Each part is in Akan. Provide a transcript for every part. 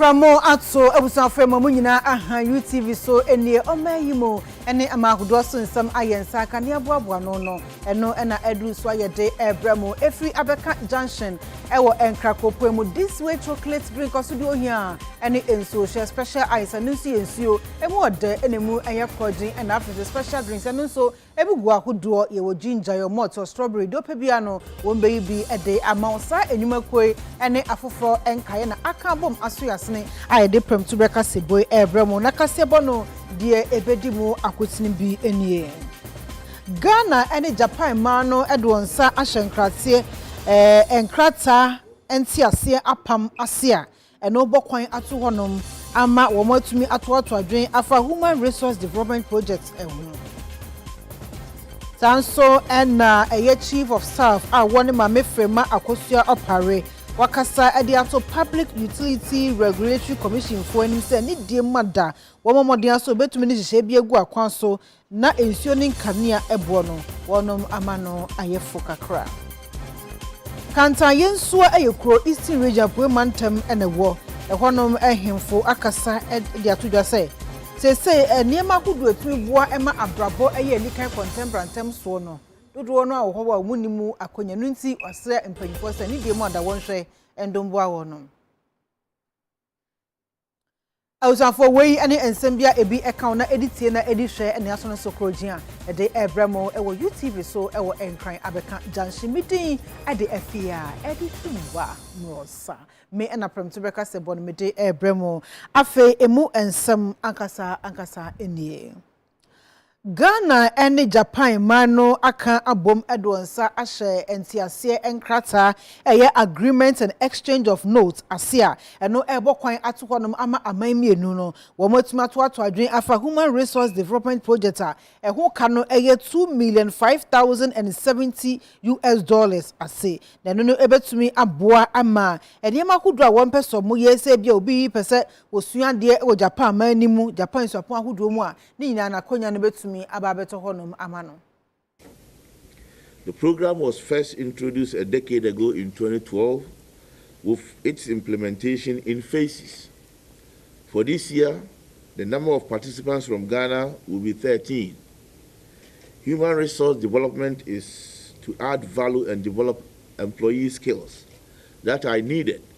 Pramo ato abusuafo ɛma mo nyinaa aha UTV so ɛnie ɔmaa yi mu ɛne ama ahodoɔ so nsɛm ayɛ nsa aka ne aboaboa no no ɛno ɛna ɛduru so ayɛ de ɛbrɛ mo ɛfiri abɛka junction ɛwɔ ɛnkra kuropɔn mu this way chocolate drink ɔsodeɛ ohia ɛne nsuo hyɛ special ice ɛno nso yɛ nsuo ɛmu ɔdɛ ɛna ɛmu ɛyɛ kɔgyen ɛna afei nso special drinks ɛno nso Ebi gu ahodoɔ, yɛwɔ ginger, yɛwɔ malt, yɛwɔ strawberry, deɛ wopɛ biara no wɔbɛyi bi de ama wo. Saa nnwumakuo yi ne afoforɔ nkaeɛ na aka abom aso yɛn asene a yɛde prɛmtu berɛ kaseɛbɔ yi rebrɛ mo. Na kaseɛbɔ no deɛ ɛbɛdi mu akotene bi nie. Ghana ne Japan mmaa no de wɔn nsa ahyɛ nkrateɛ, nkrataa nteaseɛ apam ase a Ɛno bɔ kwan ato hɔnom ama wɔatumi atoato adwene afa Human Resource Development Project ho. Saa nso na ɛyɛ Chief of Staff a wɔne Maame Frema Akosua Opare wakasa de ato Public Utility Regulatory Commissionfoɔ anim sɛ ne die mma da, wɔmmɔ mmɔden ara sɛ wɔbɛtumi de nhyehyɛe bi agu akwan so Na nsuo ne nkanea boɔ no, wɔnom ama no ayɛ fo kakra. Kantan Yensua yɛ kuro Eastern Region Apueɛ Mantam na ɛwɔ. Ɛhɔnom ahemfo akasa de ato dwa sɛ, seesei nneɛma ahodoɔ a ɛtumi boa ma abrabɔ yɛ anikan kɔntɛmpra ntɛm soɔ no, dodoɔ no ara wɔ hɔ a wɔnni mu akwannya. Ɛno nti wɔasrɛ mpanimfoɔ sɛ ne deɛ mu ada wɔnhwɛ ndomboa wɔnom. Abusuafoɔ, woi ne nsɛm bi a ebi ka wo na edi tie na edi hwɛ ne aso no so korɔgyen a yɛde rebrɛ mo wɔ UTV so wɔ Nkran abɛka Junction. Me din de Afeaa Adutwumba Morosa. Me na prɛmto bɛka sɛ bɔ no mede rebrɛ mo. Afei emu nsɛm ankasa ankasa nie. Ghana ne Japan man no aka abom de wɔn nsa ahyɛ nteaseɛ nkrataa a ɛyɛ Agreement and Exchange of Notes ase a ɛno rebɔ kwan ato hɔnom ama aman mmienu no wɔatumi atoato adwene afa Human Resource Development Project a ɛho ka no yɛ two million five thousand and seventy US dollars ase na ɛno no bɛtumi aboa ama nneɛma ahodoɔ a wɔmpɛ sɛ wɔyɛ sɛ ebia obi pɛ sɛ Wɔsua adeɛ wɔ Japan man no mu, Japan nsuapɔn ahodoɔ mu a ne nyinaa no akwannya no bɛtumi aba abɛtɔ hɔnom ama no. The program was first introduced a decade ago in twenty twelve, with its implementation in phases. For this year, the number of participants from Ghana will be thirteen. Human resource development is to add value and develop employee skills that are needed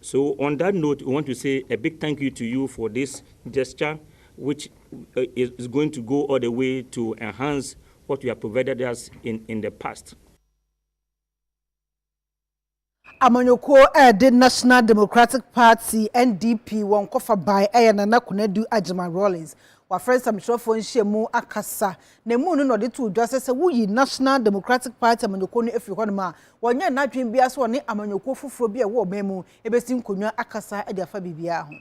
So on that note we want to say a big thank you to you for this gesture which is going to go all the way to enhance what you have provided us in in the past. Amanyɔkuo a ɛde National Democratic Party, NDP, wɔn kɔfa bae yɛ Nana Konadu Agyemang Rawlings. Wafrɛ nsɛmtwerɛfoɔ nhyiamu akasa Na emu no na ɔde too dwa sɛ sɛ woyi National Democratic Party amanyɔkuo no firi hɔnom a, ɔnyɛ n'adwene biara sɛ ɔne amanyɔkuo foforɔ bi a ɛwɔ ɔman mu bɛsi nkonnwa akasa de afa biribiara ho.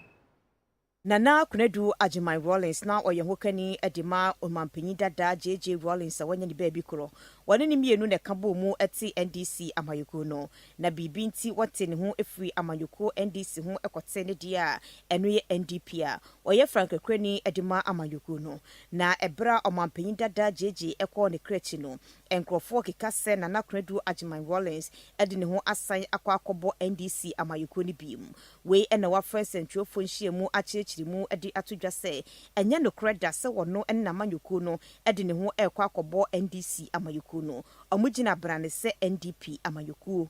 Nana Konadu Agyeman Rawlings na ɔyɛ hokani de ma Ɔmanpanin dada JJ Rawlings a wanya ne baabi korɔ. Wɔne no mmienu na ɛka bɔɔ mu te NDC amanyɔkuo no. Na biribi nti wɔtee ne ho firii amanyɔkuo NDC ho kɔtee ne deɛ a ɛno yɛ NDP a ɔyɛ frankakurani de ma amanyɔkuo no. Na ɛberɛ a Ɔmanpanyin dada Gyegye kɔɔ ne kra akyi no, nkorɔfoɔ keka sɛ Nana Konadu Agyeman Rawlings de ne ho asan akɔ akɔbɔ NDC amanyɔkuo no bio. Wei na wɔafrɛ nsɛntwerɛfoɔ nhyiamu akyerɛkyere mu de ato dwa sɛ ɛnyɛ nokorɛ da sɛ ɔno ne n'amanyɔkuo no de ne ho rekɔ akɔbɔ NDC amanyɔkuo no. Wɔgyina brane sɛ NDP amanyɔkuo.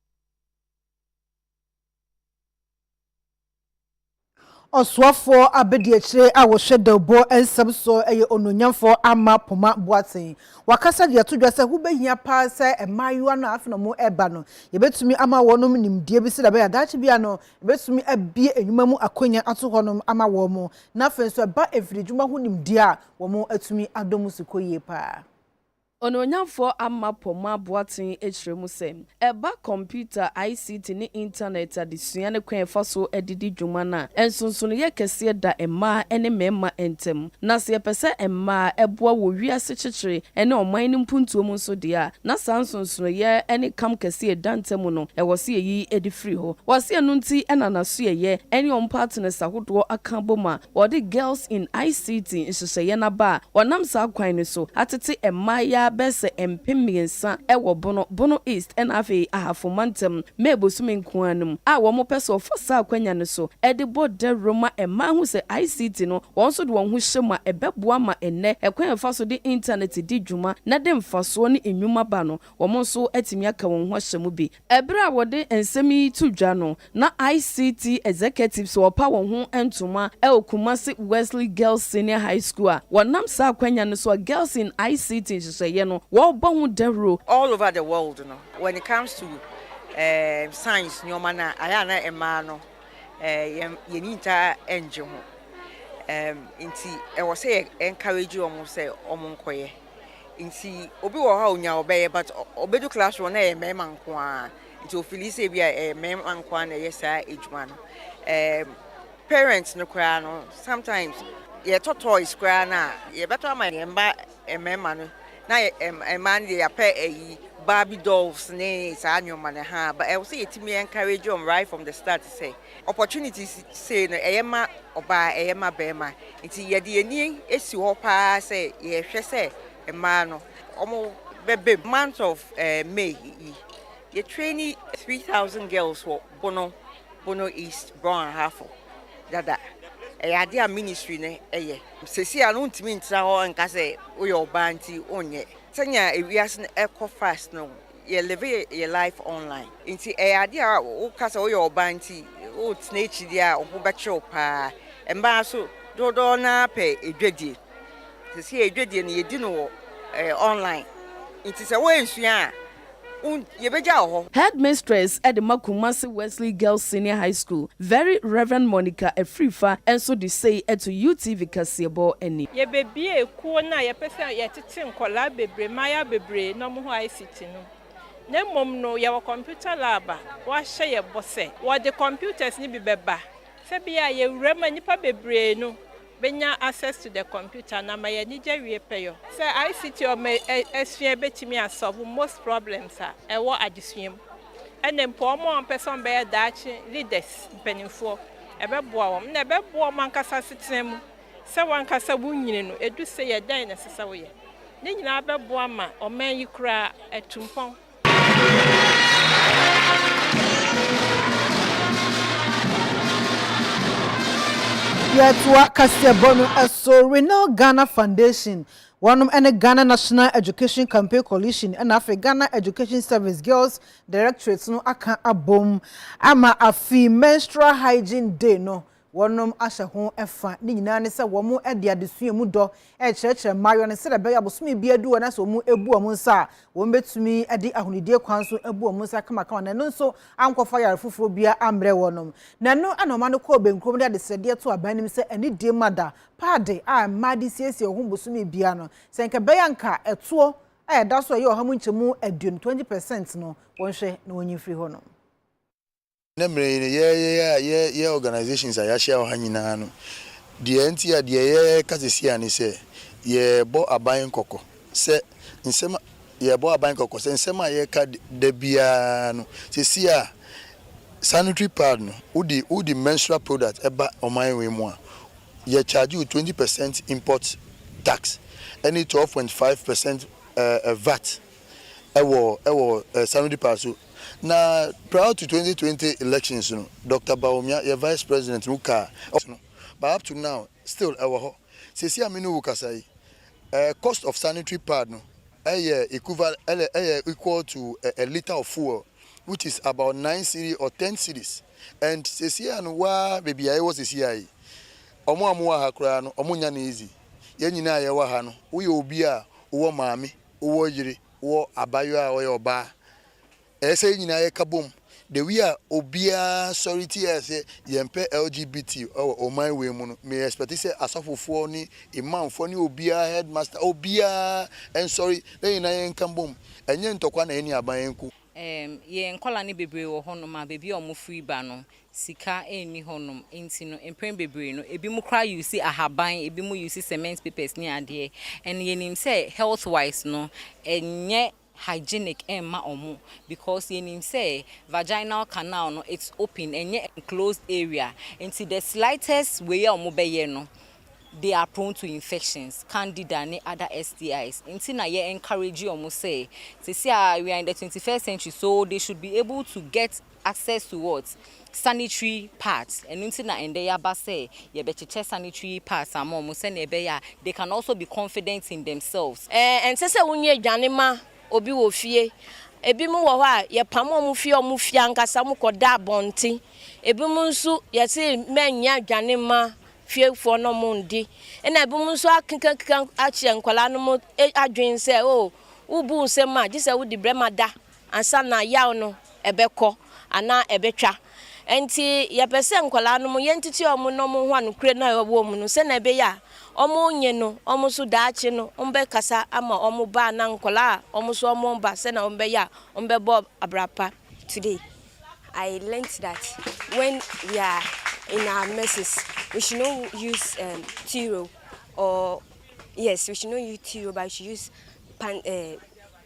Ɔsoafoɔ abadiakyire a ɔhwɛ dawubɔ nsɛm soɔ yɛ Onuonyamfoɔ Amma Poma Boateng. Wakasa de ato dwa sɛ ho bɛhia pa ara sɛ mmaayewa no a afei na wɔreba no, yɛbɛtumi ama wɔnom nimdeɛ bi sɛdeɛ ɛbɛyɛ a daakye biara no, yɛbɛtumi abue nnwuma mu akwannya ato hɔnom ama wɔn na afei nso ɛba mfiridwuma ho nimdeɛ a, wɔatumi adɔ mu so kɔ yie pa ara. Onuonyamfoɔ Ammah Pomah Boateng kyerɛ mu sɛ, ɛba kɔmputa, ICT ne intanɛt adesua ne kwan a ɛfa so de di dwuma no a, nsonsonoeɛ kɛseɛ da mmaa ne mmarima ntam. Na sɛ yɛpɛ sɛ mmaa boa wɔ wiase kyekyere ne ɔman no mpuntuo mu nso deɛ a, na saa nsonsonoeɛ ne kam kɛseɛ a ɛda ntam no, ɛwɔ sɛ yɛyi de firi hɔ. Wɔ se ɛno nti na n'asoɛeɛ ne wɔn partners ahodoɔ aka abom a Wɔde Girls in ICT nhyehyɛeɛ no aba a wɔnam saa kwan no so atete mmaayaa bɛyɛ sɛ mpem mmiɛnsa wɔ Bono, Bono East ɛna afei Ahafo mantam, May bosome nko ara no mu a wɔpɛ sɛ wɔfa saa akwanya no so de bɔ dawuro ma mmaa hu sɛ ICT no wɔn nso de wɔn ho hyɛ mu a ɛbɛboa ma ɛnnɛ ɛkwan a yɛfa so de intanɛte di dwuma na ɛde mfasoɔ ne nnwuma ba no wɔn nso atumi aka wɔn ho ahyɛ mu bi. Bere a wɔde nsɛm yi to dwa no, na ICT executives a wɔpa wɔn ho ntoma wɔ Kumasi Wesley Girls Senior High School a wɔnam saa akwanya no so a Girls in ICT nhyehyɛeɛ no wɔrebɔ ho dawuro, All over the world no, when it comes to um science nneɛma no a, ayɛ a na mmaa no um yɛn yɛn ani ntaa ngye ho um nti ɛwɔ sɛ yɛ encourage wɔn sɛ wɔn nkɔyɛ. nti obi wɔ hɔ a onya ɔbɛyɛ but obedu class wɔ na ɛyɛ mmarima nko ara nti ofili sɛ ebi a ɛyɛ mmarima nko ara na ɛyɛ saa adwuma no ɛɛm parents no koraa no sometimes yɛtɔ toys koraa no a yɛbɛtɔ ama yɛn mma mmarima no na mmaa no deɛ yɛapɛ ayi barbie dolls ne saa nneɛma no ha ɛwɔ sɛ yɛtumi encourage wɔn right from the start sɛ. Opportunities sei no ɛyɛ ma ɔbaa ɛyɛ ma bɛɛma nti yɛde yɛn ani esi hɔ paa sɛ yɛhwɛ sɛ mmaa no ɔmo bɛbɛ mu. Month of May yi yɛ traini three thousand girls wɔ Bono Bono East Brong Ahafo dada ɛyɛ adeɛ a ministry no ɛyɛ. Sɛsi a no wontumi ntra hɔ nka sɛ woyɛ ɔbaa nti wonyɛ sɛnea ewiase no ɛkɔ fast no yɛ live yɛ life online nti ɛyɛ adeɛ a woka sɛ woyɛ ɔbaa nti wotena akyi deɛ a ɔbo bɛkye wo paa mmaa nso dodoɔ no ara pɛ dwadie sɛsɛ yɛ dwadie no yɛdi no wɔ ɛɛ online nti sɛ woansua a wo yɛbɛgya wɔ hɔ. Headmistress de ma Kumasi Wesley Girls Senior High School, Very Rev. Monica Afrifa nso de sei to UTV kaseɛbɔ anim. Yɛbɛbue kuo no a yɛpɛ sɛ yɛte. te nkwadaa bebree, mmaayewa bebree na wɔn ho ICT no na mmom no yɛwɔ computer lab a wɔahyɛ yɛn bɔ sɛ wɔde computers no bi bɛba sɛ bia a yɛwura mu a nnipa bebree no bɛnya access to the computer no ama yɛn anigye awie pɛyɔ sɛ ICT a wɔn asua bɛtumi a solve most problems a ɛwɔ adesua mu ɛna mpo wɔn a wɔn pɛ sɛ wɔn bɛyɛ daakye leaders, mpanimfoɔ, ɛbɛboa wɔn na ɛbɛboa wɔn ankasa asetena mu Sɛ w'ankasa wunnyini no, edu sɛɛ a, dɛn na ɛsɛ sɛ woyɛ? Ne nyinaa bɛboa ma ɔman yi koraa atu mpɔn. Yɛtoa kaseɛbɔ no so. Renal Ghana Foundation, wɔnom ne Ghana National Education Campaign Coalition na afei Ghana Education Service Girls Directorate no aka abom ama afei Menstrual Hygiene Day no wɔnom ahyɛ ho fa. Ne nyinaa ne sɛ wɔde adesua mu dɔ rekyerɛkyerɛ mmaayewa no sɛdeɛ ɛbɛyɛ a bosome biara du hɔ na sɛ wɔbu wɔn nsa a, wɔbɛtumi de ahonidie kwan so abu wɔn nsa kamakama na ɛno nso ankɔfa yare foforɔ biara ammrɛ wɔnom. Na ɛno na ɔma no kɔɔ Benkurom de adesrɛdeɛ too aban anim sɛ anidie ma da, paade, a mmaa de siesie wɔn ho bosome biara no, sɛ anka ɛbɛyɛ a anka ɛtoɔ a ɛda so a ɛyɛ ɔha mu nkyɛmu aduonu, 20 percent, no wɔnhwɛ na wɔnyi mfiri hɔnom. Nnɛ mmerɛ yi no, yɛ yɛ yɛ a yɛ yɛ organisations a yɛahyia wɔ ha nyina ara no, deɛ nti a deɛ yɛ ka seesei ara ne sɛ, yɛ bɔ aban kɔkɔ sɛ nsɛm a yɛ bɔ aban kɔkɔ sɛ nsɛm a yɛ ka da biara no, seesei ara sanitary pad no, wo de wo de menstrual product ba ɔman wei mu a, yɛ charge wo twenty percent import tax ɛne twelve point five percent ɛɛ vat. wɔ wɔ Sanudi Park so. Na prior to twenty twenty elections no, Doctor Bawumia yɛ Vice President no car wɔ no. But up to now, still ɛwɔ hɔ. Seesei a me ne wo rekasa yi, cost of sanitary pad no yɛ equivalent yɛ equal to a litre of fuel which is about nine cedi or ten cedis and seesei a no wo ara baabi a yɛwɔ seesei a yi, wɔn a wɔwɔ ha koraa no, wɔnnya no easy. Yɛn nyinaa a yɛwɔ ha no, woyɛ obi a wowɔ maame, wowɔ yere, wowɔ abaayewa a ɔyɛ ɔbaa. Ɛyɛ sɛ yɛn nyinaa yɛka bom. The way a obiara sɔre tiaa sɛ yɛmpɛ LGBT wɔ ɔman wei mu no, me expect sɛ asɔfofoɔ ne Imamfoɔ ne obiara, headmaster, obiara nsɔre na yɛn nyinaa yɛnka bom. Ɛnyɛ ntɔkwa na ɛne aban nko. Erm, yɛn nkwadaa no bebree wɔ hɔnom a, baabi a wɔfiri ba no, sika nni hɔnom nti no mpren bebree no ebi mo koraa use ahaban ebi mo use cement papers ne adeɛ and yɛnim sɛ health wise no ɛnyɛ hygienic ɛmma ɔmo because yɛnim sɛ vaginal canal no it's open ɛnyɛ enclosed area nti the slightest wei a ɔmo bɛyɛ no they are prone to infections candida ne other STIs nti na yɛ encourage ɔmo sɛ sɛsi a we are in the 21st century so they should be able to get access to what? Sanitary pads, ɛno nti na ɛndɛ yɛaba sɛ yɛbɛkyekyɛ sanitary pads ama wɔn sɛnea ɛbɛyɛ a they can also be confident in themselves. Ɛnsɛ sɛ wonya aduane ma obi wɔ fie. Ebinom wɔ hɔ a, yɛpam wɔn fi wɔn fie ankasa, wɔkɔda abɔnten. Ebinom nso, yɛse mɛnyɛ aduane mma fiefoɔ na wɔndi. Ɛna ebinom nso akekakeka ahyɛ nkwadaa no adwene sɛ, oh, wobu nsɛm a, gye sɛ wode berɛ ma da. ansa na yaw no bɛkɔ anaa ɛbɛtwa. Ɛnti yɛpɛ sɛ nkwadaa no yɛntete wɔn na wɔn ho anokorɛ no a ɛwɔ wɔn mu no sɛdeɛ ɛbɛyɛ a wɔn nye no, wɔn nso daakye no wɔn bɛkasa ama wɔn ba anaa nkwadaa a wɔn nso wɔn mma sɛdeɛ wɔn bɛyɛ a wɔn bɛbɔ abira pa. Today I learnt that when we are in our messes we should not use um, tiro or yes we should not use tiro but we should use pan, uh,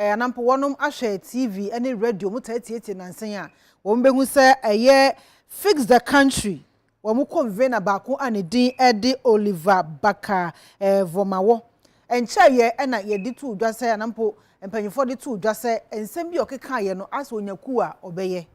Ɛɛ, ana mpo wɔnom ahwɛ TV ne radio, wɔn taa tietie nansa yi a, wɔn bɛhu sɛ ɛyɛ Fix the Country, wɔn convener baako a ne din de Oliver Barker ɛɛ Vormawɔ. Ɛnkyɛeɛ na yɛde too dwa sɛ, ana mpo mpanyinfoɔ de too dwa sɛ, nsɛm bi a ɔkekaaeɛ no, asɛ ɔnya kuo a ɔbɛyɛ.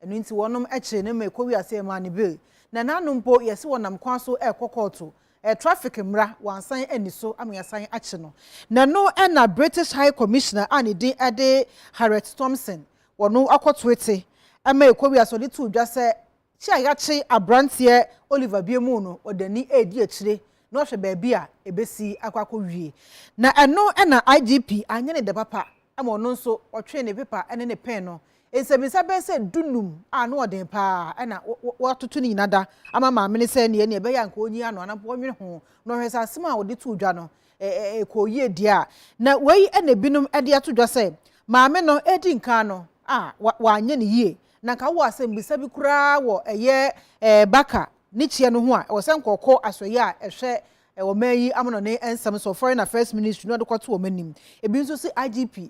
Ɛno nti wɔnom kyere no ma ɛkɔ wiase yɛ maa no bill. Na ɛna ano mpo yɛse wɔnam kwan so ɛrekɔ kɔɔto. Ɛyɛ traffic mmra, wansan anni so ama yɛasan akye no. Na ɛno na British High Commissioner a ne din de Harriet Thompson, wɔno akɔ toete ma ɛkɔ wiase, ɔde too dwa sɛ kye a yɛakye abranteɛ Oliver Biamou no ɔde ani redi akyire na wahwɛ baabi a ɛbɛsi akɔ akɔ wie. Na ɛno na IGP anyɛ ne dɛ papa ma ɔno nso ɔtwee ne pepa ne ne pen no Nsɛmmisa bɛyɛ sɛ dunum a ano yɛ den pa ara na wɔatoto no nyinaa da ama maame no sɛ nea ɛbɛyɛ a anka onyi ano anaa mpo ɔnwene ho, na ɔhwɛ sɛ asɛm a wɔde too dwa no, ɛkɔɔ yie deɛ a. Na wei na ebinom de ato dwa sɛ maame no redi nkan no a wanyɛ no yie, na anka wowɔ asɛmmisa bi koraa wɔ ɛyɛ baka ne kyeɛ no ho a, ɛwɔ sɛ anka ɔkɔ asoɛeɛ a ɛhwɛ ɔman yi amanɔne nsɛm soɔ, Foreign Affairs Ministry, na ɔde kɔto wɔn anim. Ebi nso se IGP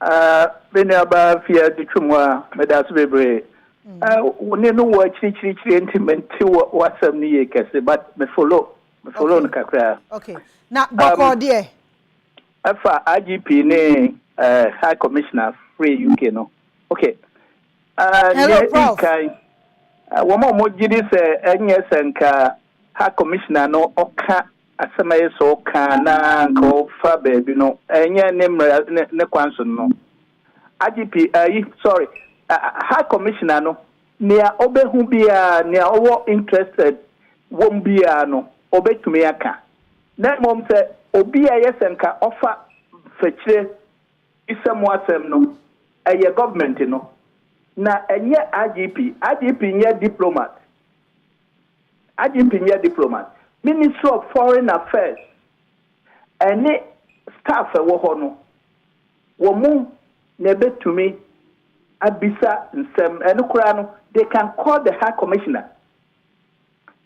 Ah, me nuabaa fi adi twe mu a, meda ase bebree. Ah, wo ne no wɔ akyirikyirikyiri nti mente wɔ w'asɛm no yie kɛse, but me follow, me follow Okay. no kakra. Okay. Na Um, bɔkɔɔ deɛ? ɛfa IGP ne eh, High Commissioner free UK no. Okay. Ah, Hello, nea Prof. ɛdikan, ah, wɔn a wɔgye di sɛ ɛnyɛ sɛ nka High Commissioner no ɔka Asɛm a eye sɛ ɔka na anka ɔfa baabi no, ɛnyɛ ne mmara ne ne kwan so no. IGP, ayi, sorry, High Commissioner no, nea ɔbɛhu biara, nea ɔwɔ interested wom biara no, ɔbɛtumi aka. Na mmom sɛ obi a ɛyɛ sɛ nka ɔfa fakyire bi sɛ mo asɛm no, ɛyɛ government no, na ɛnyɛ IGP. IGP nyɛ diplomat. IGP nyɛ diplomat. Ministry of Foreign Affairs ne staff a ɛwɔ hɔ no, wɔn na ɛbɛtumi abisa nsɛm. Ɛno koraa no, they can call the High Commissioner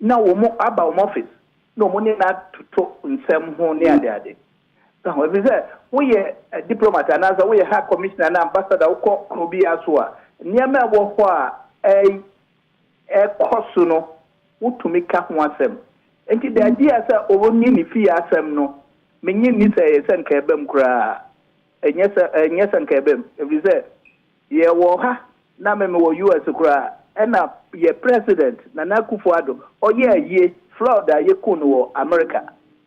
na wɔn aba wɔn office na wɔn ne no atoto nsɛm ho ne adeade. Ɛho, ɛfiri sɛ woyɛ diplomat anaasɛ woyɛ High Commissioner na ambassador wokɔ kuro biara so a, nneɛma ɛwɔ hɔ a ɛy ɛkɔ so no, wotumi ka ho asɛm. Enti da bi a sɛ ɔrenye ne fie asɛm no, minnye nni sɛ ɛyɛ sɛ anka ɛbam koraa. Ɛnyɛ sɛ, ɛnyɛ sɛ anka ɛbam, efisɛ yɛwɔ ha, na me mewɔ US. koraa, ɛnna yɛn President, Nana Akufo-Addo, ɔyɛɛ ayi, Floyd a yekuu no wɔ Amerika,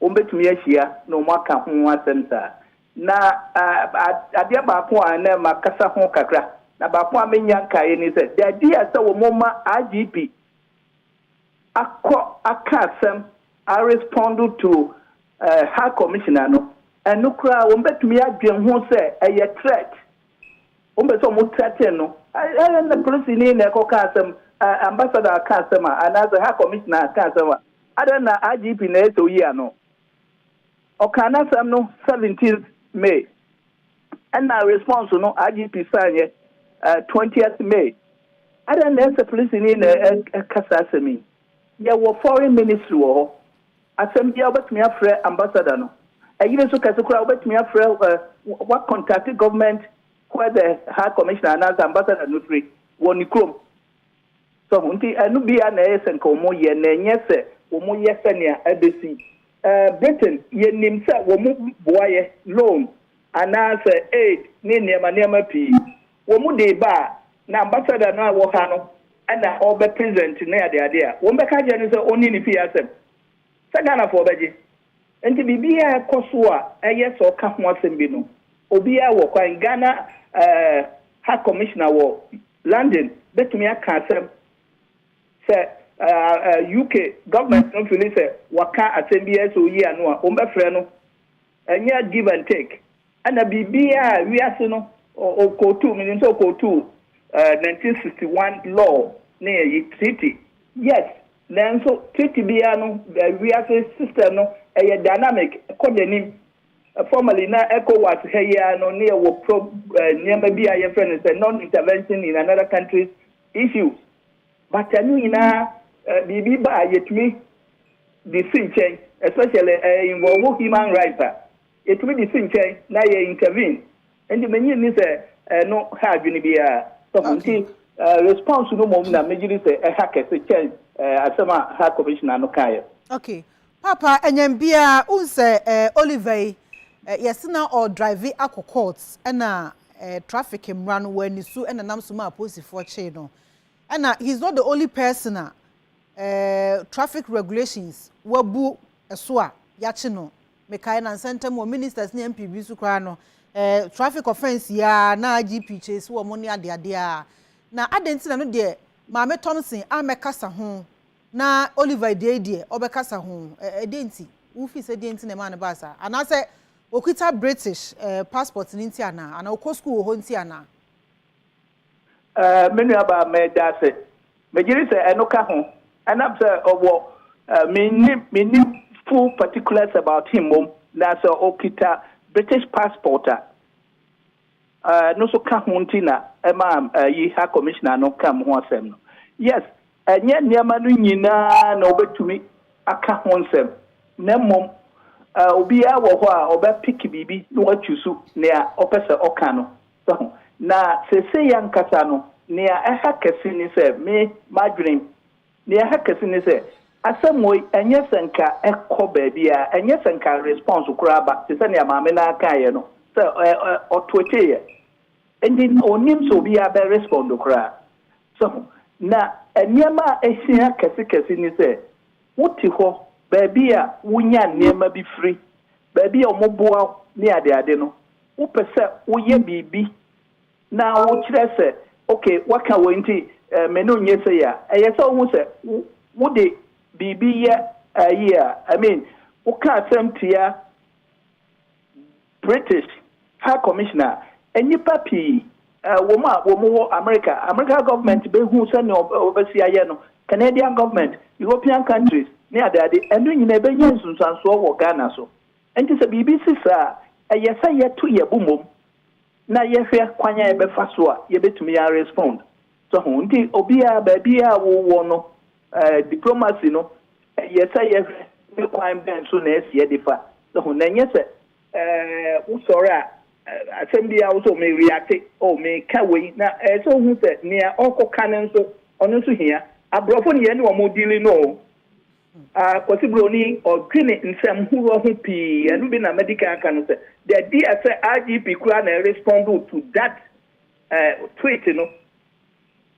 Wɔbɛtumi ahyia na wɔaka ho asɛm saa. Na adeɛ baako a na makasa ho kakra, na baako a mennya nkaeɛ ne sɛ, the idea sɛ wɔma IGP akɔ aka asɛm a respond to High Commissioner no, ɛno koraa wɔbɛtumi adwene ho sɛ ɛyɛ threat. Wɔpɛ sɛ wɔteatea no. Ɛ, ɛ, na polisini na ɛkɔka asɛm, ɛ, ambassador aka asɛm a, anaasɛ High Commissioner aka asɛm a, adɛn na IGP na ɛyɛ sɛ oyi ano? Ɔkaa n'asɛm no seventeenth May, ɛnna response no IGP san yɛ, ɛ, twentieth May. Adɛn na ɛyɛ sɛ polisini na ɛ, ɛka saa asɛm yi? Yɛwɔ Foreign Ministry wɔ hɔ. Asɛm biara wobɛtumi afrɛ ambassador no. Ɛyere nso kɛse koraa wobɛtumi afrɛ eh, wa contact government where the high commissioner anaasɛ ambassador no firi wɔ ne kurom. So ho nti ɛno biara na ɛyɛ sɛ nka wɔn yɛ na ɛnyɛ sɛ wɔn yɛ sɛnea ɛbɛsi. Eh, Britain yɛnim sɛ wɔn boayɛ, loan anaasɛ aid ne nneɛma nneɛma pii. Wɔde ba a, na ambassador no a ɛwɔ ha no na ɔbɛ present ne ade ade a, wɔn bɛka akyerɛ no sɛ ɔnni ne fie asɛm. Sɛ Ghanafoɔ bɛgye. Nti biribiara a ɛkɔ so a ɛyɛ sɛ ɔka ho asɛm bi no, obiara wɔ kwan, Ghana eh, High Commissioner wɔ London bɛtumi aka asɛm sɛ eh, UK government no fili sɛ waka asɛm biara sɛ ɔyi ano a, wɔn bɛfrɛ no. Ɛnyɛ give and take ɛna biribiara a wiase no ɔkootu menim sɛ ɔkootu ɛɛ nineteen sixty one law ne ɛyi treaty yes nanso treaty biara no ɛɛ wiase system no ɛyɛ dynamic ɛkɔ n'anim formally na ECOWAS ha yi ara no ne ɛwɔ pro ɛɛ nneɛma bi a yɛfrɛ no sɛ non intervention in another country's issues. But ɛno nyinaa biribi ba a yɛtumi de si nkyɛn especially ɛ involve human rights a yɛtumi de si nkyɛn na yɛ intervene nti mennye nni sɛ ɛno ha adwene biara sɔfo nti ɛ response no mmom na megye di sɛ ɛha kɛse kyɛn ɛ asɛm a High Commissioner no kaeɛ. Ok Paapa ɛnyɛn biara wohu sɛ ɛ Oliver yi ɛ yɛse na ɔredrive akɔ court ɛna ɛ traffic mmara no wanni so ɛna ɛnam so maa apolisifoɔ kyee no Ɛna he's not the only person a ɛɛ traffic regulations wabu ɛso a yakye no. Mekae na nsa ntam wɔ ministers ne MP bi so koraa no ɛɛ traffic offence yi ara na IGP chase wɔn ne ade ade ara. Na adɛn nti na ɛno deɛ Maame Thompson ammɛ kasa ho na Oliver Adua yi deɛ ɔbɛ kasa ho ɛɛ ɛdɛn nti? Wo feel sɛ deɛn nti na ɛmaa no baa saa? Anaa sɛ okita British ɛɛ passport no nti anaa? Anaa ɔkɔ school wɔ hɔ nti anaa? Eh, me nuabaa, meda ase. Megye di sɛ ɛno ka ho. Ɛnam sɛ ɔwɔ, eh, minni, minni full particulars about him mmom, na sɛ okita British passport a, eh, ɛno nso ka ho nti na ɛma, eh, yi High Commissioner no ka mo ho asɛm no. Yes, ɛnyɛ nneɛma no nyinaa na obetumi aka ho nsɛm, na mmom, eh, obiara wɔ hɔ a ɔbɛpick biribi na wachusu nea ɔpɛ sɛ ɔka no. Wahu. Na seesei ankasa no, nea ɛha kɛse ne sɛ, me, m'adwenem, nea ɛha kɛse ne sɛ, asɛmoi, ɛnyɛ sɛ nka ɛkɔ baabiara, ɛnyɛ sɛ nka response koraa ba, te sɛ nea maame no ara kaeɛ no, sɛ ɔ, ɔ, ɔtweeteeɛ. Enti na ɔnnim sɛ obiara bɛ respond koraa. So ho? Na nneɛma a ɛhia kɛse kɛse ne sɛ, wote hɔ, baabi a wonya nneɛma bi firi, baabi a wɔboa wo ne adeade no, Wopɛ sɛ woyɛ biribi na wokyerɛ sɛ, okay, wɔaka wei nti me no nyɛ sei a, ɛyɛ sɛ wohu sɛ wode biribi yɛ ayi a, I mean, woka asɛm tia British High Commissioner a, nnipa pii wɔ mu a wɔwɔ America, America government bɛhu sɛnea wɔbɛsi ayɛ no, Canadian government, European countries ne adeade, ɛno nyinaa ɛbɛnya nsunsuansoɔ wɔ Ghana so. Enti sɛ biribi si saa a, ɛyɛ sɛ yɛto yɛn bo mmom na yɛhwɛ kwan a yɛbɛfa so a yebetumi arespond. So ho? Enti obiara, baabiara a wowɔ no, eh, diplomacy no, ɛyɛ sɛ yɛhwɛ ne kwan bɛn so na ɛsɛ yɛde fa. So ho? Na ɛnyɛ sɛ, eh, wosɔre a, eh, asɛm biara wo so me reacte, oh, meka wei, na ɛyɛ sɛ wohu sɛ nea ɔrekɔka no nso, ɔno nso hia. Aborɔfo no, yɛne wɔn deali no o. A Kwasi Broni, ɔdwene nsɛm horoɔ ho pii, ɛno bi na madi kan aka no sɛ, the idea sɛ IGP koraa na ɛrespondoo to that tweet no,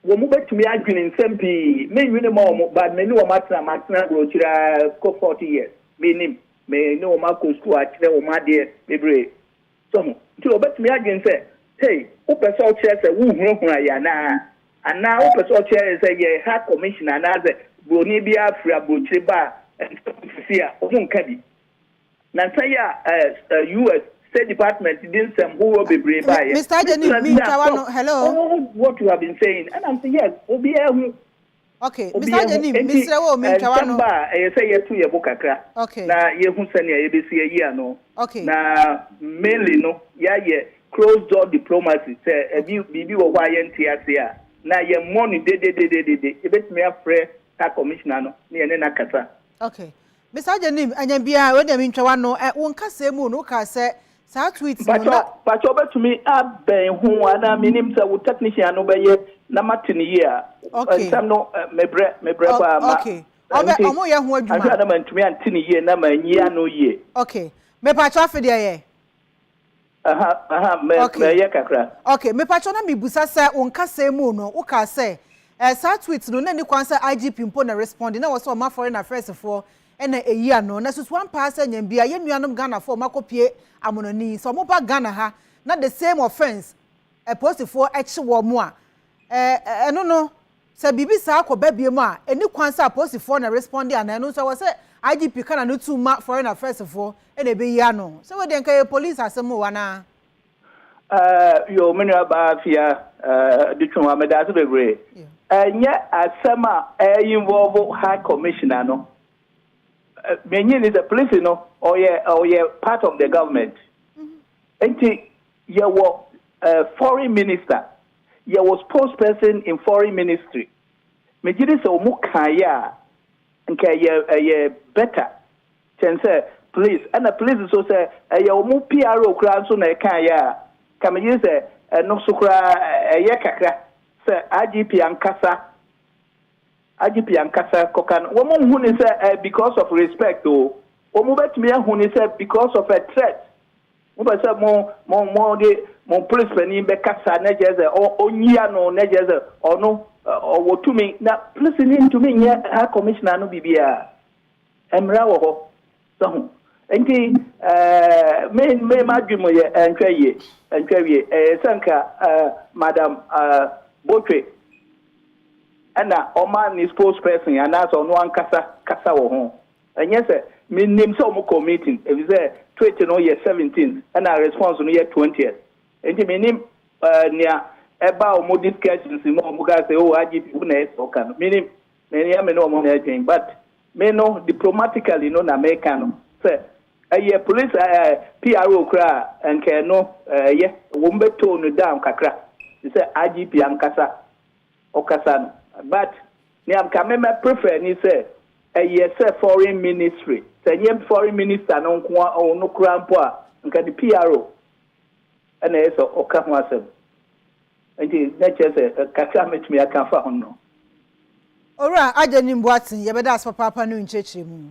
wɔn bɛtumi adwene nsɛm pii, me nwene ma wɔn, but me ne wɔn atena, matena aburokyire ara kɔ forty years, mennim, me ne wɔn akɔ sukuu akyerɛ wɔn adeɛ bebree, So ho. Nti obetumi adwene sɛ, Hey, wopɛ sɛ ɔkyerɛ sɛ wohunahuna yɛn anaa? Anaa wopɛ sɛ ɔkyerɛ yɛn sɛ yɛn ha commissioner anaasɛ buroni biara firi aburokyire ba a, ɛnsɛ sɛ ɔte fie a wɔnka bi? Nansa yi a ɛɛ US. State Department de nsɛm horoɔ bebree Me, baeɛ. Mister Agyenim, Mr. mintwa Agyenim, ah, w'ano. stop. Hello? Oh, what you have been saying. Ɛna mese, yes, obiara hu. Ok, me san nyɛ nim, mesrɛ wo me ntwa w'ano. Obiahu, enti nsɛmma a ɛyɛ sɛ yɛto yɛn bo kakra na yɛhu sɛnea yɛbɛsi ayi ano. Na mainly no, yɛayɛ closed door diplomacy, sɛ ɛbi biribi wɔ hɔ a yɛnte aseɛ a, na yɛmmɔ no dedededede, yɛbɛtumi afrɛ saa commissioner no na yɛne no akasa. Ok, Miss Agyenim, Anyanbia, wei deɛ mentwa w'ano. Ɛ, wo nkasɛɛ mu no, wokaa sɛ saa tweets no Mpakyɛw, na. mpakyɛw wobɛtumi abɛn ho anaa mennim sɛ wo technician no bɛyɛ na mate no yie a. Okay. Nsɛm no, ɛ, mebrɛ, mebrɛ Ɔk, paa. Ma, okay. ɛ, Ɔbɛ, nti, ɔmo yɛ ho adwuma. anhwɛ a na mantumi ante no yie na manyi ano yie. Okay. Mepakyɛw afe deɛ yɛ. Aha aha mɛ Okay. mɛyɛ kakra. Okay, mepakyɛw na mibusa sɛ wo nkasɛɛ mu no wo kaa sɛ eh, saa tweet no na ɛni kwan sɛ IGP mpo na ɛresponde na ɛwɔ sɛ ɔma foreign affairs foɔ na ɛyi ano. Na susu ampa ara sɛ Nyambia yɛn nuanom Ghanafoɔ a wɔn akɔpie amonɔne yi sɛ wɔn ba Ghana ha na the same offence eh, polisifoɔ kye wɔn a eh, eh, ɛno no Sɛ biribi saa kɔ ba biom a, ɛni kwan sɛ apolisifoɔ na ɛresponde anaa ɛno nso ɛwɔ sɛ IGP ka n'ano tum ma foreign affairs foɔ na ɛbɛyi ano. Sɛ wei deɛ nka ɛyɛ police asɛm oo anaa? Aah yoo me nua baa Afia Adutwumwa meda ase bebree. Ɛnyɛ asɛm a ɛyɛ involve High Commissioner no. Nea ɛnyɛ ni sɛ polisi no ɔyɛ ɔyɛ part of the government. Nti Yɛwɔ foreign minister, yɛwɔ spokesperson in foreign ministry. Megye di sɛ wɔn kaeɛ a nka ɛyɛ ɛyɛ better kyɛn sɛ please. Ɛna please nso sɛ ɛyɛ wɔn PRO koraa nso na ɛkaeɛ a, nka megye di sɛ ɛno nso koraa ɛyɛ kakra sɛ IGP ankasa IGP ankasa kɔka no. Wɔn nhu no sɛ ɛyɛ because of respect o. Wɔn bɛtumi ahu no sɛ because of a threat. Mopɛ sɛ mo mo mode mo polis panin bɛkasa na kyerɛ sɛ ɔnyi ano na kyerɛ sɛ ɔno ɔwɔ tumi na polisini ntumi nyɛ High Commissioner no biribiara. Mmara wɔ hɔ. Sɛ ho. Nti me me m'adwene mu yɛ ɛntwa yie ɛntwa wie ɛyɛ sɛ nka Madam Botwe ɛna ɔma ne spokesperson anaasɛ ɔno ankasa kasa wɔ ho. Ɛnyɛ sɛ minnim sɛ wɔkɔɔ meeting, efisɛ tweet no yɛ seventeenth ɛnna response no yɛ twentieth, enti minnim nea ɛbaa wɔn discussions mu a wɔkaa sɛ, Oh, IGP wo na ɛsɛ sɛ ɔka no. Minnim. Ɛnyɛ me ne wɔn na ɛredwen, but me no diplomatically no na mereka no. Sɛ ɛyɛ police PRO koraa a, anka ɛno ɛyɛ wɔbɛtone no down kakra te sɛ IGP ankasa. Ɔkasa no but nea nka me mɛ prefer ni sɛ ɛyɛ sɛ foreign ministry sɛ nyɛ foreign minister no nkoa ɔno koraa mpo a nka ne PRO ɛna ɛyɛ sɛ ɔka ho asɛm nti na kyerɛ sɛ kakra mɛtumi aka afa ho no. Owura Agyenim Boateng, yɛbɛda ase papaapa ne wo nkyerɛkyerɛmu.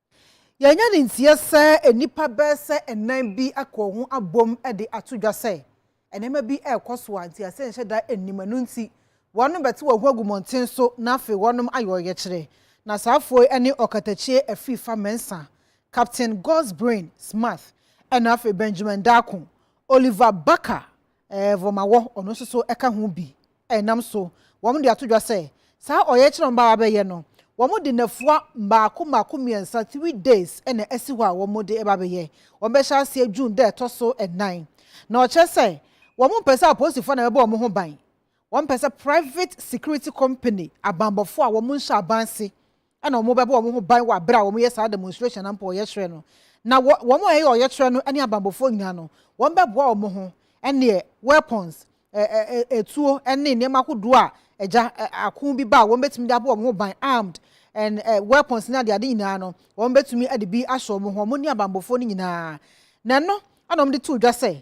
Yɛanya no nteɛ sɛ nnipa bɛyɛ sɛ nnan bi aka wɔn ho abom de ato dwa sɛ nneɛma bi rekɔ so a ntease nhyɛ da nnim, ɛno nti wɔnom bɛte wɔn ho agu mmɔnten so na afei wɔnom ayɛ ɔyɛkyerɛ. Na saa afoɔ yi ne ɔkatakyie Afiifa Mensah, Captain God's Brain Smarth, ɛna afei Benjamin Darko, Oliver Barker Vomawɔ, ɔno nso so ka ho bi. Ɛnam so, wɔde ato dwa sɛ, saa ɔyɛkyerɛ a wɔbaa abɛyɛ no, wɔde nnafua mmaako mmaako mmiɛnsa, three days, na asi hɔ a wɔde reba abɛyɛ. Wɔbɛhyɛ aseɛ June da a ɛtɔ so nnan. Na ɔkyerɛ sɛ, wɔmpɛ sɛ apolisifoɔ na ɛbɛbɔ wɔn ho ban. Wɔmpɛ sɛ private security company, abanbɔfoɔ a wɔnhyɛ aban ase, na wɔbɛbɔ wɔn ho ban wɔ bere a wɔyɛ saa demonstration anaa ɔyɛkyerɛ no. Na wɔn a ɛyɛ ɔyɛkyerɛ no ne abanbɔfoɔ nyinaa no, wɔbɛboa wɔn ho ne weapons, atuo ne nneɛma ahodoɔ a agya ako bi ba a wɔbɛtumi de abɔ wɔn ho ban, armed and weapons ne adeade nyinaa no, wɔbɛtumi de bi ahyɛ wɔn ho, wɔn ne abanbɔfoɔ no nyinaa. Na ɛno na wɔde too dwa sɛ,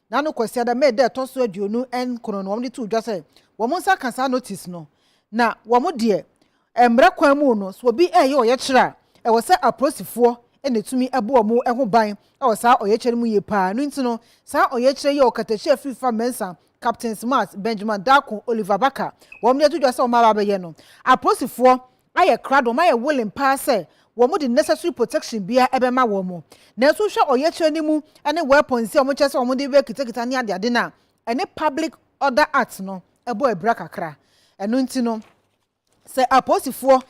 na no Kwasiada, May, da a ɛtɔ so aduonu nkron no wɔde too dwa sɛ wɔn nsa ka saa notice no, na wɔn deɛ mmara kwan mu no sɛ obi reyɛ ɔyɛkyerɛ a ɛwɔ sɛ apolisifoɔ na ɛtumi bɔ wɔn ho ban wɔ saa ɔyɛkyerɛ no mu yie paa no nti no saa ɔyɛkyerɛ yi a ɔkatahyia Fifa Mensah Captains Mars Benjamin Darko Oliver Barker wɔn de ato dwa sɛ wɔn aba abɛyɛ no apolisifoɔ ayɛ krado, wɔn ayɛ willing paa sɛ wɔde necessary protection biara bɛma wɔn. Nanso wohwɛ ɔyɛkyerɛ no mu ne weapons yi a wɔkyerɛ sɛ wɔde bɛkitakita ne adeade no a, ɛne Public Order Act no bɔ abira kakra. Ɛno nti no, sɛ apolisifoɔ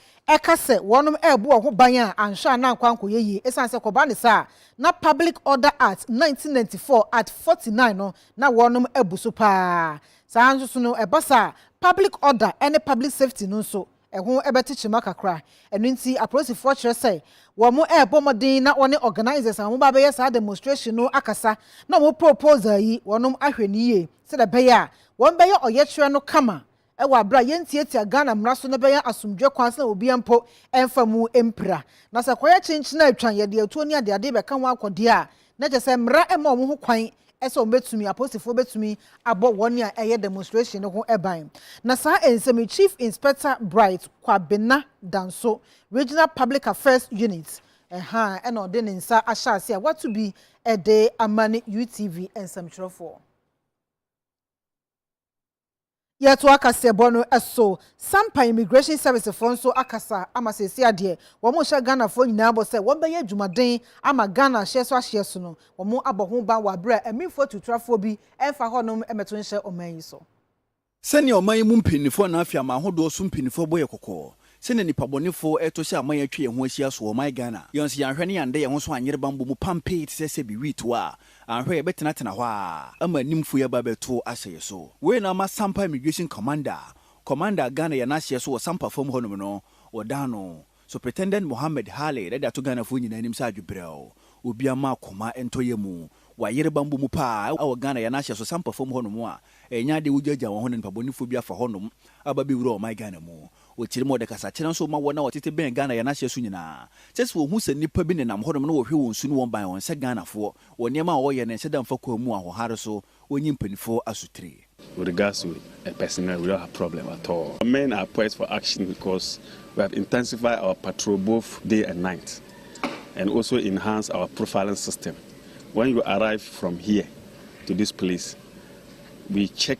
ka sɛ wɔn rebɔ wɔn ho ban a, anhwɛ a na ankɔ ankɔyɛ yie ɛsiane sɛ kɔba ne saa a, na Public Order Act nineteen ninety four, Art forty nine no, na wɔn abu so paa. Saa ara nso no, ɛba saa a, public order ne public safety no nso, Ɛho bɛte kyema kakra. Ɛno nti apolisifoɔ kyerɛ sɛ wɔrebɔ mmɔden na wɔne organisers a wɔba abɛyɛ saa demonstration no akasa na wɔn proposal yi wɔnom ahwɛ no yie sɛdeɛ ɛbɛyɛ a wɔbɛyɛ ɔyɛkyerɛ no kama wɔ aberɛ a yɛntiatia Ghana mmara so na ɛbɛyɛ asomdwoeɛ kwan so na obiara mpo mfa mu mpira. Na sɛ kɔyɛ kyenkyen a atwan yɛde atuo ne adeade bɛka ho akɔ deɛ a na kyerɛ sɛ mmara mma wɔn ho kwan sɛ wɔbɛtumi, apolisifoɔ bɛtumi abɔ wɔn a ɛyɛ demonstration no ho ban. Na saa nsɛm yi, Chief Inspector Bright Kwabena Danso, Regional Public Affairs Unit, ɛha na ɔde ne nsa ahyɛ ase a wato bi de ama ne UTV nsɛmtwerɛfoɔ. Yɛtoa kaseɛbɔ no so. Sampa Immigration Service foɔ nso akasa ama seesei a deɛ wɔhyɛ Ghanafoɔ nyinaa bɔ sɛ wɔbɛyɛ adwumaden ama Ghana ahyeɛ so ahyeɛ so no, wɔabɔ ho ban wɔ aberɛ a ɛminfoɔ atutrafoɔ bi mfa hɔnom mmɛto nhyɛ ɔman yi so. Sɛnea ɔman yi mu mpanimfoɔ anaa afiaman ahodoɔ so mpanimfoɔ bɔ yɛ kɔkɔ Sɛnea nipabɔnefo reto hyɛ aman a atwa yɛn ho ahyia so wɔ ɔman Ghana, yɛn nso yɛanhwɛ na yɛanda yɛn ho so anyere bammɔ mu pampee te sɛ sɛbi wheat a, anhwɛ a yɛbɛtenatena hɔ ara ama animfo yi aba abɛto ahyɛ yɛn so. Wei na ama Sampa Immigration Commander a Commander a Ghana yɛ n'ahyeɛ so wɔ Sampa fam hɔnom no, wɔdan no Supritendent Mohammed Khalid de ato Ghanafoɔ nyinaa anim sɛ adwebrɛw, obiara mma akoma ntɔ yɛn mu. Wɔayere bammɔ mu pa ara wɔ Ghana yɛ n'ahyeɛ so Sampa fam hɔnom a ɛnyɛ adeɛ a wogyaagyaa wɔn ho na nipabɔnefo bi afa hɔnom aba abɛwura ɔman Ghana mu. Ɔtirim ɔde kasakyerɛ nso ma wɔn a wɔtete bɛn Ghana yɛn ahyɛ so nyinaa. Kyerɛ sɛ wɔhu sɛ nnipa bi nenam hɔnom na wɔhwɛ wɔn su ne wɔn ban, ɔnsɛ Ghanafoɔ, wɔ nneɛma a ɔreyɛ no nhyɛ da mfa kwan mu ahohare so, ɔnyi mpanimfoɔ asotire. With regards to a personnel, we don't have problem at all. Our men are poised for action because we have intensified our patrol both day and night and also enhanced our profiling system. When you arrive from here to this place, we check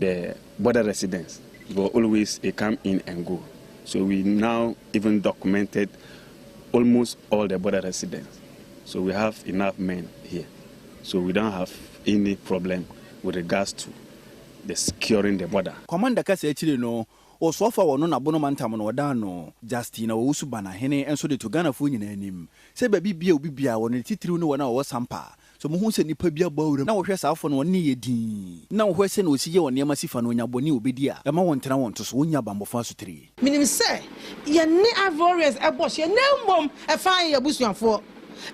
the border residents were always a come in and go so we now even documented almost all the border residents so we have enough men here so we don't have any problem with regards to the securing the border. Commander kasa akyire no, Ɔsoafo a ɔno na Bono mantam no ɔdaa no, Justina Owusu-Banahene nso de to Ghanafoɔ nyinaa anim sɛ baabi biara a obi biara wɔ no ne titiriw ne wɔn a wɔwɔ Sampa, Sɛ mohu sɛ nipa bi abɔ awura mu na wɔhwɛ saa afɔ no a, ɔno ne yɛ dinn, na wɔhwɛ sɛnea osi yɛ wɔn nneɛma si fa no, onya bɔne a obedi a ɛma wɔntena wɔn to so, wonnya bammɔfo asotiri. Minim sɛ yɛne Ivorians bɔ hyeɛ na mmom ɛfa yɛ abusuafoɔ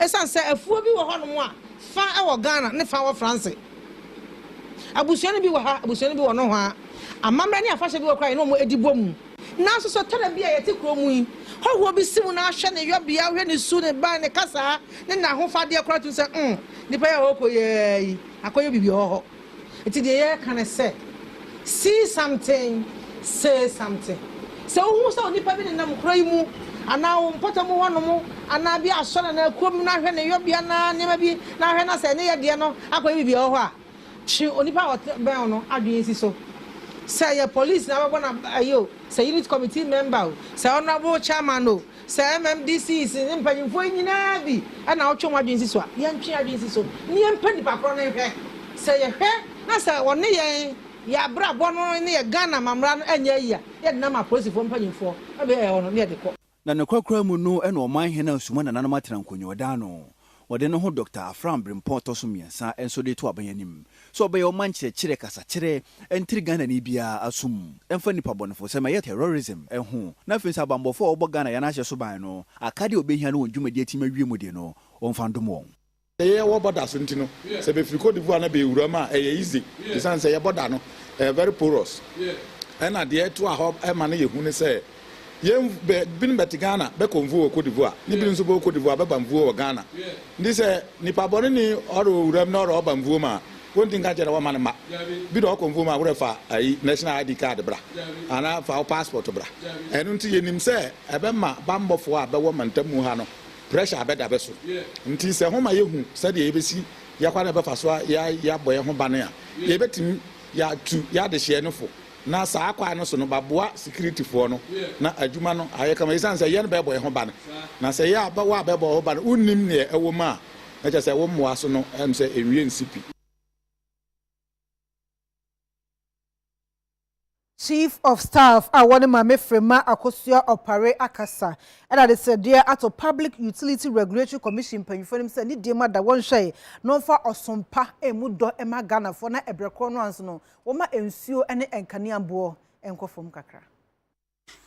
ɛsiane sɛ afuo bi wɔ hɔnom a fa wɔ Ghana ne fa wɔ France. Abusua no bi wɔ ha, abusua no bi wɔ nohoa. Amammerɛ ne afahyɛ bi wɔ koraa a yɛne wɔn di bɔ mu. Nanso sɛ ɔtena bia yɛte kuro mu yi, hɔhoɔ bi si mu na ahwɛ ne yɔbea, wohwɛ ne su, ne ban, ne kasaa, ne n'ahofadeɛ koraa tumi sɛ mm, nipa yi a ɔɔkɔ yi aa yi akɔyɛ biribi wɔ hɔ. Nti deɛ yɛɛka ne sɛ, see something, say something. Sɛ wohu sɛ onipa bi nenam kuro yi mu anaa wo mpɔtamu hɔ nom anaa bia asɔre anaa kurom na ahwɛ ne yɔbea anaa nneɛma bi na ahwɛ na sɛ ɛne yɛ deɛ no akɔyɛ biribi wɔ hɔ a, Twe onipa a ɔtebɛn wo no adwene si so. Sɛ ɛyɛ polis na abɛbɔ no ayi o, sɛ unit committee member o, sɛ honourable chairman o, sɛ MMDCs ne mpanyimfoɔ yi nyinaa bi na wotwe wɔn adwene si so a, yɛntwe yɛn adwene si so na yɛmpɛ nipa korɔ no nhwɛ. Sɛ yɛhwɛ na sɛ ɔne yɛn, yɛn abrabɔ no ne yɛn Ghana amammerɛ no nyɛ yie a, yɛde no ama apolisifoɔ mpanyimfoɔ na baabi a yɛwɔ no na yɛde kɔ. Na nokwar koraa mu no nna ɔman hen a Suma nananom atsena nkonyɔɔdan no, wɔde no ho Dɔkta Afram Brempɔn tɔ so miɛnsa nso de to aban anim sɛ ɔbɛyɛ ɔman nkyerɛkyerɛ kasakyerɛ nter Ghanani biara asom mfa nnipa bɔnefosɛm a ɛyɛ terrorism ho na afei nso abambɔfo a wɔbɔ Ghana yan ahyɛ so ban no akade a wɔbehia no wɔn dwumadi atim awie mu de no wɔmfa ndom wɔn. Sɛ yɛwɔ bɔda so nti no sɛ befiri Côte d'Ivoire na bewura mu a ɛyɛ easy esiane sɛ yɛ bɔda no ɛyɛ very porous ɛna deɛ ɛtoa hɔ ɛma no yɛ hu ne sɛ yɛn bɛ binom bɛte Ghana bɛkɔ nvuo wɔ Côte d'Ivoire ne binom nso bɛwɔ Côte d'Ivoire bɛba nvuo wɔ Ghana nti sɛ nipa bɔne ni ɔrewɔ wura mu na ɔrewɔ ba nvuo mu a wɔnti nka nkyɛ dɛ wɔma no mma bi na ɔkɔ nvuo mu a worɛ fa ayi national ID card bra anaa fa wo passport bra ɛno nti yɛnim sɛ ɛbɛma banbɔfoɔ a bɛwɔ mantamu ha no pressure bɛda bɛ so. Ntsi sɛ hom ma yehu sɛdeɛ yebesi yɛ kwan a yɛbɛfa so yɛabɔ hɛnho ban a, yebetsim yɛatu yɛadehyeɛ no fo, na saa kwan no so no bɛaboa sikiritifoɔ no na adwuma no aayɛ kama esiane sɛ yɛn bɛɛbɔ hɛnho ban. Na sɛ yɛ a wɔ a bɛɛbɔ woho ban no wonnim neɛ ɛwɔ mu a, na kyerɛ sɛ wo mmoa so no, ɛwom sɛ enwie nnsi pi. Chief of Staff a wɔne Maame Fremah Akosua Opare akasa de adesrɛdeɛ ato Public Utility Regulatory Commission mpanyinfoɔ anim sɛ ne deɛ mu ada wɔnhwɛe na wɔmfa ɔsom pa mmu dɔ mma Ghanafoɔ na ɛbrɛ korɔ no ara nso no wɔmma nsuo ne nkanea boɔ nkɔ fam kakra.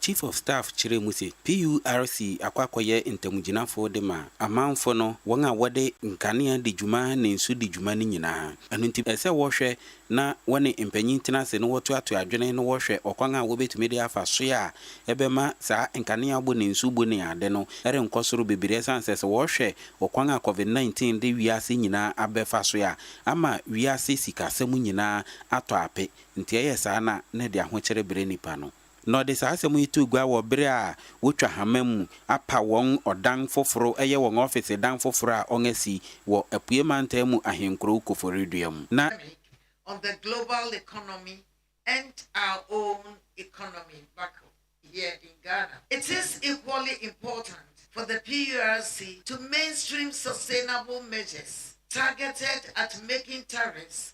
Chief of Staff kyerɛɛ mu se, PURC akɔ akɔyɛ ntamgyinafo de ma amanfo no, wɔn a wɔde nkanea di dwuma ne nsu di dwuma no nyinaa. Ɛno nti, ɛsɛ wɔhwɛ na wɔne mpanyin tena ase na wɔtoatoa adwene na wɔhwɛ ɔkwan a wobetumi de afa so a ɛbɛma saa nkanea bo ne nsu bo ne ade no renkɔ soro bebree esiane sɛ sɛ wɔhwɛ ɔkwan a Covid nineteen de wiase nyinaa abɛfa so a, ama wiase sikasɛm nyinaa atɔ ape. Enti ɛyɛ saa na na ɛde ahokyere brɛ nnipa no. Na ɔde saa asɛm yi too gua wɔ bere a wotwa hama mu apa wɔn ɔdan foforo, ɛyɛ wɔn ɔfese dan foforo a wɔasi wɔ Apuei Mantam mu ahenkurow Koforidua mu. Na. On the global economy and our own economy back here in Ghana, it is equally important for the PURC to mainstream sustainable measures targeted at making tariffs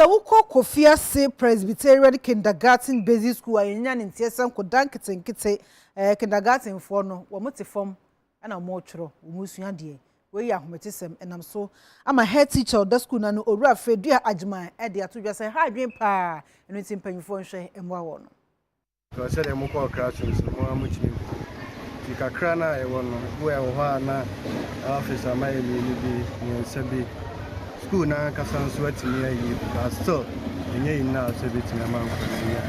Sɛ wokɔ Kofi Ase Presbyterian Kindergarten Basic School a yɛnnya ne nteɛsɛm ko da nketenkete, ɛɛ, kindergartenfoɔ no, wɔn te fam. na wɔretwerɛ wɔn sua deɛ. Wei yɛ ahometesɛm ɛnam so ama head teacher a ɔda sukuu no ano, Owura Fredua Agyemang de ato dwa sɛ ha adwene pa ara, ɛno nti mpanimfoɔ nhwɛ mmoa wɔn. Because sɛdeɛ mokɔɔ classrooms no mo ara motumi hu nti kakra no a yɛwɔ no wowɔ ɛwɔ hɔ a na office ama yɛ mmienu bi mmiɛnsa bi school no ankasa nso atumi ayi but still ɛnyɛ enough sɛ bɛtumi ama nkwadaa yi a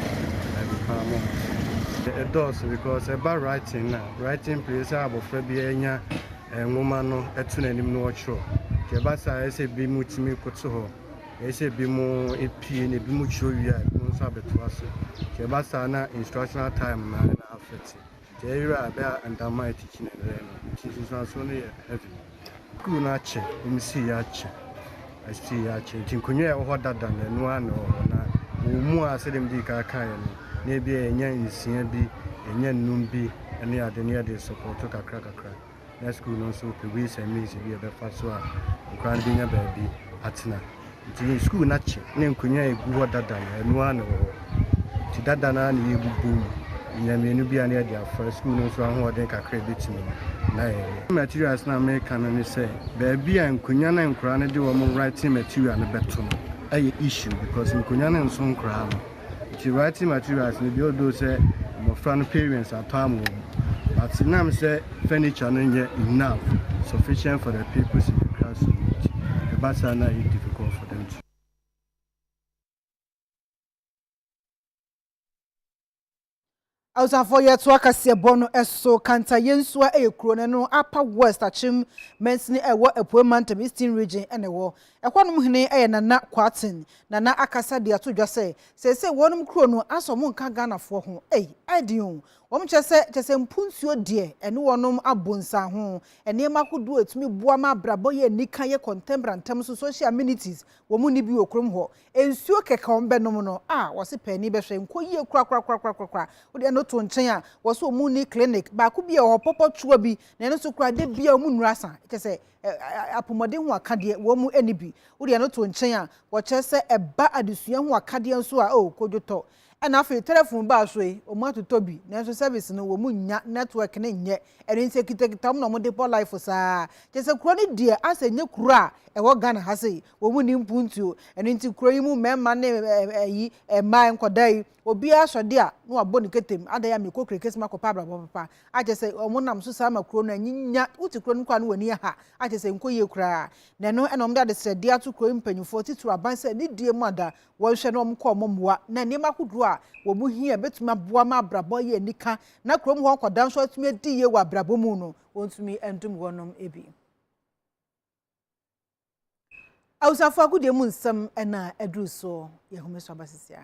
ɛde paa mo ho ɛdɔɔso because ɛba writing no a Writing place a abɔfra biara nya nwoma no to n'anim na ɔkyerɛw. Nti ɛba saa a, ɛyɛ sɛ binom tumi koto hɔ, ɛyɛ sɛ binom pue na binom kyerɛw wie a, binom nso abɛtoa so. Nti ɛba saa na instructional time no ara na affect. Nti ɛyera a, ɛbɛyɛ a ntama a ɛkyekyere no, ɛbɛyɛ no. Nti nsunsuansoɔ no yɛ heavy. Sukuu no akyɛ, wɔn sii akyɛ, ɛsii akyɛ. Nti nkonnwa a ɛwɔ hɔ dada na ɛno ara na ɛwɔ hɔ na wɔn mu a sɛdeɛ mede kan kaeɛ no na ebi a yɛnya nsia bi, yɛnya nnum bi ne ade ne yɛde sɔpɔto kakra kakra na sukuu no nso pɛ ways and means bi a ɛbɛfa so a nkwadaa no bɛnya baabi atena. Nti yɛn sukuu no akye na nkonnwa a ɛgu hɔ dada no, ɛno ara na ɛwɔ hɔ. Nti dada no ara na yɛrebobɔ mu. Yɛnya mmienu bi a na yɛde afa. Sukuu no nso ahoɔden kakra a ɛbɛtumi no, na yɛyɛ. Materials no a mereka no ne sɛ, baabi a nkonnwa no a nkwadaa no de wɔn writing material no bɛto no yɛ issue because nkonnwa no nso nkoraa no. Nti writing materials no bi although sɛ mmɔfra no parents apam wɔn but nam sɛ furniture no nyɛ enough, sufficient for the purpose in the classroom no nti ɛba saa na ɛyɛ difficult for them to. Abusuafoɔ yɛtoa kaseɛbɔ no so, Kanta Yensua yɛ kuro no ɛno Upper West Akyem mansini a ɛwɔ Apueɛ Mantam Eastern Region na ɛwɔ. Ɛhɔnom hene yɛ Nana Kwarteng. Nana akasa de ato dwa sɛ seesei wɔnom kuro no asɔ wɔn nka Ghanafoɔ ho. Ei! Ayɛ den o! Wɔnom kyerɛ sɛ kyerɛ sɛ mpo nsuo deɛ ɛne wɔnom abɔ nsianho. Nneɛma ahodoɔ a ɛtumi boa ma abrabɔ yɛ anika yɛ contemporary ntɛm so, social amenities, wɔnni bi wɔ kurom hɔ. Nsuo kɛkɛ a wɔbɛnom no, ah, wɔse paani bɛhwɛ, nkɔ yie korakorakorakorakoraa. Wode ɛno to nkyɛn a, wɔse wɔn nni clinic, baako bi wɔ hɔ, pɔpɔtwoa bi, na ɛno nso koraa, da biara wɔn nnuru asa. Kyerɛ sɛ, ɛ, ɛ, apɔmuden ho akadeɛ, wɔn nni bi. Wode ɛno to nkyɛn a, wɔkyerɛ sɛ ɛba adesua ho akadeɛ nso a, oh, kodwotɔ. Ɛna afei tɛlɛfon baa so yi ɔmo atotɔ bi nanso sɛvis no ɔmo nnya nɛtwɛk no nyɛ ɛno nti ɛkitakita ɔmo na ɔmo de bɔ laif saa kyɛsɛ kuro no deɛ asɛ ɛnyɛ kuro a ɛwɔ Ghana ha sei wɔn nni mpuntuo ɛno nti kuro yi mu mmɛɛma ne ɛyi ɛmmaa nkɔdaa yi obiara sɔ de a na wabɔ ne ketem adɛn a mekɔ krekes makɔpɛ abrabɔ papa akyɛsɛ ɔmo nam so saa ma kuro no anyinya wote kuro no koraa no w'ani aha akyɛsɛ nkɔ yie koraa na ɛno ɛna ɔmo de adesrɛdeɛ ato kuro yi mpanyinfoɔ titiri aban sɛ ne die mu ada wɔnhwɛ na wɔnkɔ wɔn mmoa na nneɛma ahodoɔ a wɔn hia a ɛbɛtumi aboa ma abrabɔ ayɛ anika na kurom hɔ nkwadaa nso atumi adi yie wɔ abrabɔ mu no wɔntumi ndom wɔnom bi. Abusuafoɔ agodie mu nsɛm na aduru so yɛ home so aba sisi a.